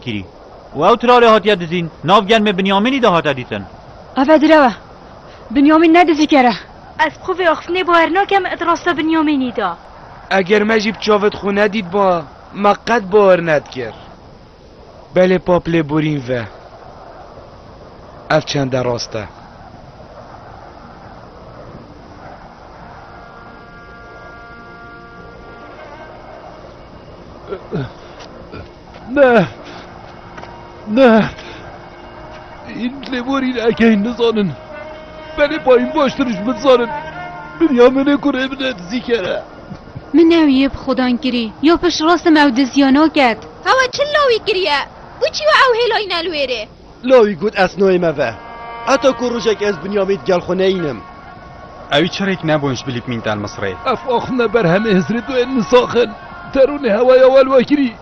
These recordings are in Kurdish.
kirî û ew tiralê hatiye dizîn, nav germê Binyamînî de hate dîtin. Ev e direw e. Binyamîn ne dizîker e. Ez bi xwe vê axftinê bawer nakem ed rasta Binyamînî da. Eger me jî bi çaved xwe nedîtba me qet bawer nedikir. Belê pap lê borîn ve. Ev çende rast e. Ne! Ne! Hîn lêborîn ekeyîn nizanin. Belê bayîn baştir ji min dizanin. Binyaminê ku rê bide dizî kere. Min ew yê bi Xudan kirî. Yo pişt rastim ew diziya naket. Hewa çi lawî kiriye? Bû çi yo ew hêlayîne li wê rê? Lawî got, Ez nayê me ve. Heta ku rojek ez Binyamîn di gel xwe neyînim. Ewî çirêk nebûn ji bilî mîn tên Misirê. Ev axfne ber hemê Hizrê duyên Nisaxin. Derûnê hewaya wel vekirî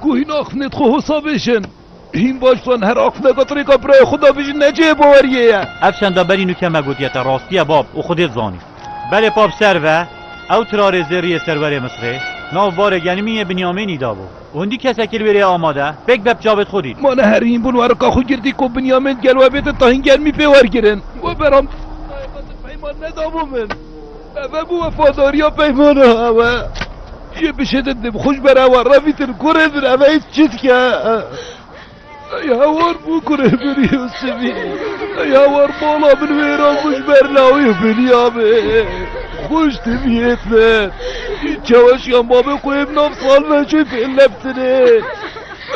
ku hîn axfnê di xwe hosa vêjin. Hîn baş zan her axfne ka di rêka birayê xwe de vêjin ne cihê baweriyê ye. Ev şenda berî nûke me gotiye te rastiye bab û Xwedê dizanî. Belê pap ser ve, ew tirarê zêriyê serwerê Misirê nav barê genimîyê Binyamînî dabû. Hundî kesekî li wê rêyê amade, pêk be picavêd xwe dît. Ma ne herîn bûn werika xwe girtî ku Binyamîn gel we bête tahin germî pê wergirin. We beram Îsraîlê xwestin peyman nedabû min. Ev bû wefadariya peymana we. Yê bişêdin dê bi xwe ji ber ew re revîtin kurê din ev hêz çi dike? Ey hawar bû ku rêberî û sivî, ey hawar mala min wêran bû ji ber lawê biniya min. Xwe ji dê bihêt min. Î çaweşiyan bavê xwe yê bi nav Salveçê fê leftinê.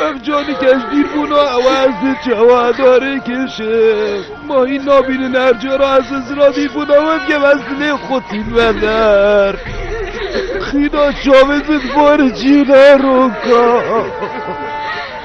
Ev canî ke ji dîr bûna ew e ez dê çawa darê kêşim. Ma hîn nabînin her cara ez li zira dîr bûna wê bikem ez dilê xwe tîn me der. Xîna çavên min di barê cî ne roka.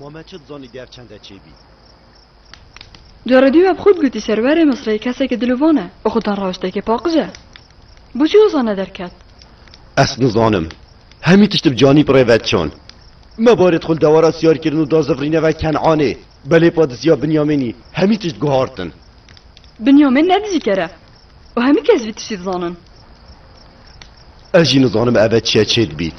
Ma me çi dizanî dev çend e çêbî. Carê dî we bi xwe digotî serwerê Misrê keseke dilovan e û xwe tenrawiştekê paqij e. Boçî wisa nederket? Ez nizanim. Hemî tişt bi canî pirê ve çan. Me barê dixwe li dewera siyar kirin û da zivrîne ve Kenanê. Belê pa diziya Binyamînî, hemî tişt guhartin. Binyamîn ne dijîker e û hemî kes vî tiştî dizanin. Ez jî nizanim ev e çiye çêdibît.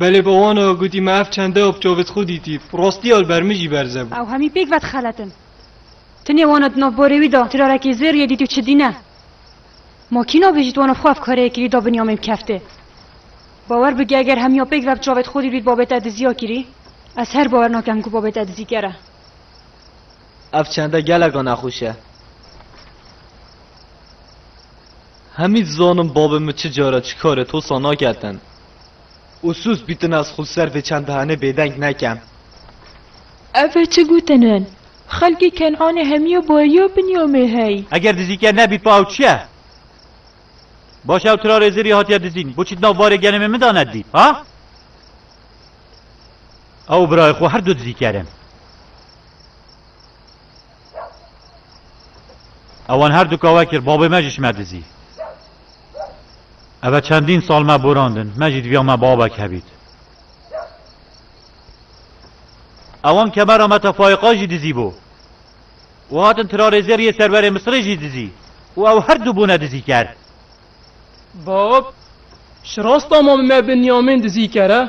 Belê ba wan a, gotî me ev çende a bi çavê xwe dîtî, rastiya li ber min jî berze bû. Ew hemî pêk vedixeletin. Tu nê wan a di nav barê wî de tirarekî zêr yê dîtî û çi dîne. Ma kî nabêjî tu wan a xwe ev kareyê kirî da binîya me bi keftê. Bawer bike eger hemiya pêk ve bi çavê xwe dîtbî tu babê te diziya kirî, ez her bawer nakim ku babê te dizîker e. Ev çende geleka nexweş e. Hemî dizanim bavê min çi cara çi karê tosa naketin. Ûsûs bîtin ez xwe li ser vê çend bihanê bêdeng nekim. Ev e çi gotin in? Xelkê Ken'anê hemîya bariya Binyamê hey. Eger dizîke nebî pa ew çi ye? Baş ew tira rêzê rî hatiye dizîn, boçî di nav varê gelê mê min de nedî, ha? Ew û birayê xwe her du dizîker in. Ewan her du ka we kir, babê me jî şime dizî. Eve çendîn sal me borandin, me jî diviya me babek hebît. Ewan kemera me te Faiqa jî dizî bo. Û hatin tirarêzêr yê serverê Misirê jî dizî. Û ew her du bûne dizîker. Bab, şirasta ma bi me Binyamîn dizîker e.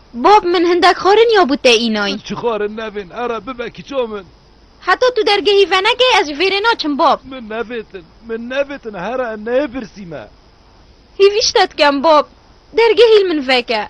Bob, min hindek xwarin ya bû te înoy? Min çi xwarin nevên, ara bibe kiço min. Heta tu dergehî venekê ez ji vê rê naçim Bob. Min nevêtin, min nevêtin hera em neyê pirsî me. Hêvî ji te dikem Bob, dergehî li min veke.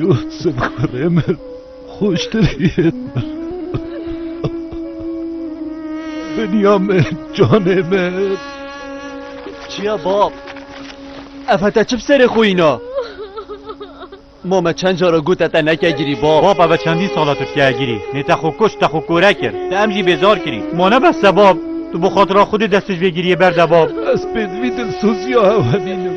Yûsif kurê min xweştir hîret mir. Dinya min, canê min. Çiya bab? Ev heta çi bi serê xwe îna? Ma me çend cara got te neke girî bab. Bab ev çendî sala tu tike girî. Nê te xwe kuşt, te xwe kore kir. Te em jî bêzar kirî. Ma ne bes e bab. Tu bi xatira Xwedê dest tij vê giriyê berde bab. Ez pêdivî dilsozîya hev hebînim.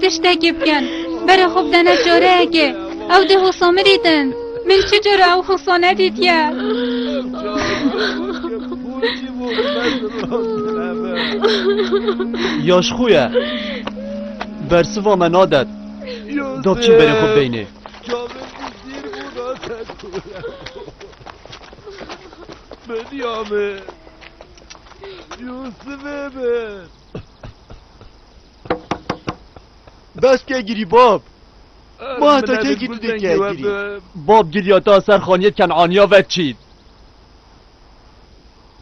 Tiştekî bikin. Bere xwe bidene çareyekê. Ew dê hosa min dîtin. Min çi cara ew hosa nedîtiye. Ya ji xwe ye. Bersiva me nadet. Gavçîn berê xwe bideyne. Benyamin! Yusufê min! Bes ke girî bab! Ma heta kê kî tu dê kê girî? Bab giriya ta ser xaniyê Kenaniya ve çît.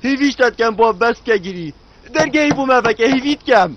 Hêvîş te dikem bab bes ke girî. Dergehî bû me veke hêvî dikem.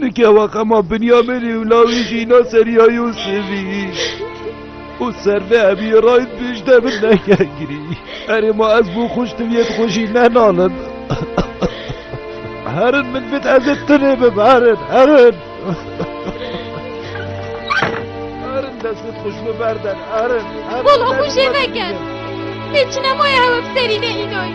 Nikewa xema Binyamînî û lawî jî înan serî ya Yûsifî û servê hemî rayîn piştê min neke girî. Erê ma ez bo xûş tiviyê di xwe jî nenalim. Herin min bit ez ê tinê bim herin herin. Herin dest bit xûş min berden herin. Bolo xûşê veke. Lê çinemoya hewe bi serî ne înoyî.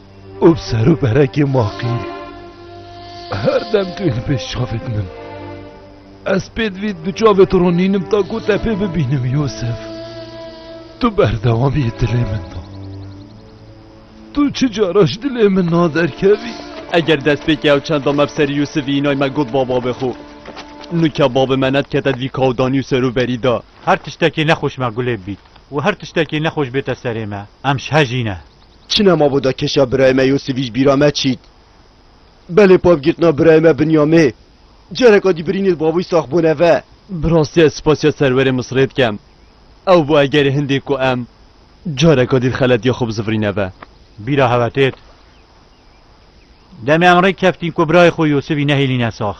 û bi ser û berekê maqî her dem tu yê li pêş çavê din im. Ez pê divî di çavê tu ronînim ta ku te pê bibînim Yûsif. Tu berdewamiyê dilê min da. Tu çi cara ji dilê min naderkevî. Eger destpêkê ew çenda me bi serî Yûsifî înay me got ba babê xwe. Nûka babê me nedikete divî kawdanî û ser û berî da. Her tiştekî nexweş me gulê bibît û her tiştekî nexweş bête serê me em ji hejî ne. Çi ne mabo da keşa birayê me Yosîfî ji bîra me çît. Belê pabgirtina birayê me Binyamê. Careka dî birînê di bavûyî sax bûne ve. Bi rastî ez spasîya serwerê Misirê dikem. Ew bû egerê hindî ku em careka dî di xeletîya xwe bizivirîne ve. Bîra hev e têt. Demê em rê keftîn ku birayê xwe Yosîfî nehêlîne sax.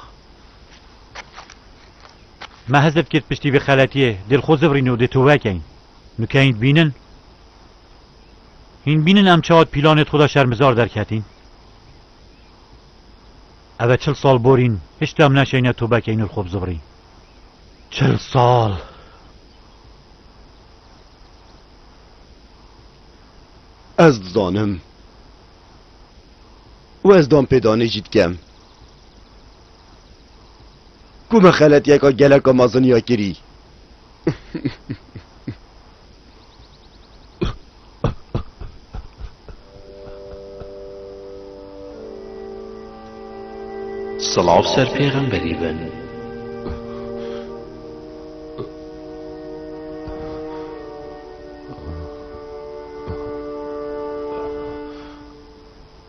Me hezif kir piştî vê xeletîyê dê li xwe zivirîn û dê tove kein. Nikeyîn dibînin? Hîn bînin em çawa di pîlanê di xwe de şermizar derketîn. Ev e çil sal borîn hişt em neşeyne tobekê înu li xwe bizivrî. Çil sal! Ez dizanim û ez danpêdanê jî dikem ku me xeletiyeka geleka mezin ya kirî. Sılav ser pêxemberî bin.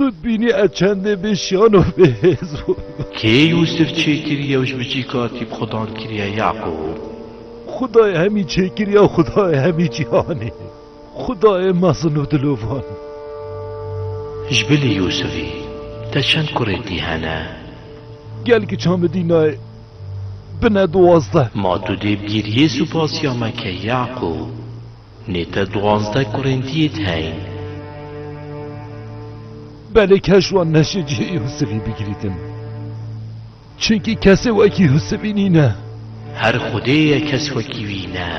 Tu dibînî ez çendê bê şiyano bê hêz bûm. Kê Yûsif çêkir yew ji bicî katî bi Xudan kiriye Yaqûb? Xudayê hemî çêkir ya Xudayê hemî cîhanê, Xudayê mezin û dilovan. Ji bilî Yûsifî te çend kurê dî hene? Gel kiça min dî nayê bine duwazdeh. Ma tu dê bi giriyê supasiya me ke Yaqûb. Nê te duwazdeh kurên diyêt heyn. Belê keş wan neşê cihê Yûsivî bigirîtin. Çinkî kesê wekî Yûsivî nîne. Her xwedê ye kes wekî wî ne.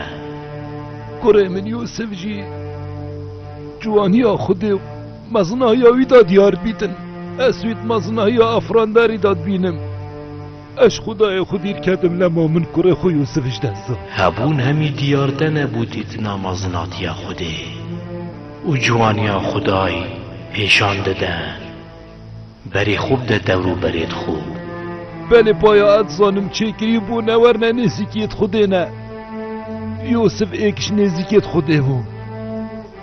Kurê min Yûsiv jî ciwaniya xwedê û mezinaya wî da diyar bîtin. Ez wî di mezinaya Efranderî da dibînim. Ez xwedayê xwe bîr ketim lema min kurê xwe Yûsif ji dest da. Hebûn hemî diyar te nebû dîtina mezinatiya Xwedê û ciwaniya Xwedayî pêşan dide berî xwe bide dewrû berê dixwe. Belê paya ez zanim çêkirî bû ne wer ne nêzîkiyê di Xwedê ne. Yûsif êk ji nêzîkê di Xwedê bû.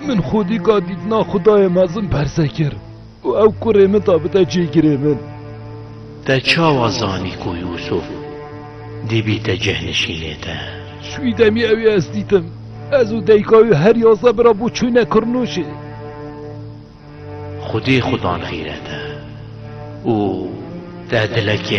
Min xwedîka dîtina Xwedayê mezin berse kir. Û ew kurê min da bide cîgirê min. Te çawa zanî ku Yûsûf dibîte cehnişînê te? Şûyî demê ew ê ez dîtim. Ez û dayika wî her yazdeh bi re bû çûne Kirnûşê. Xwedê xwe dan xîrete û te dilekê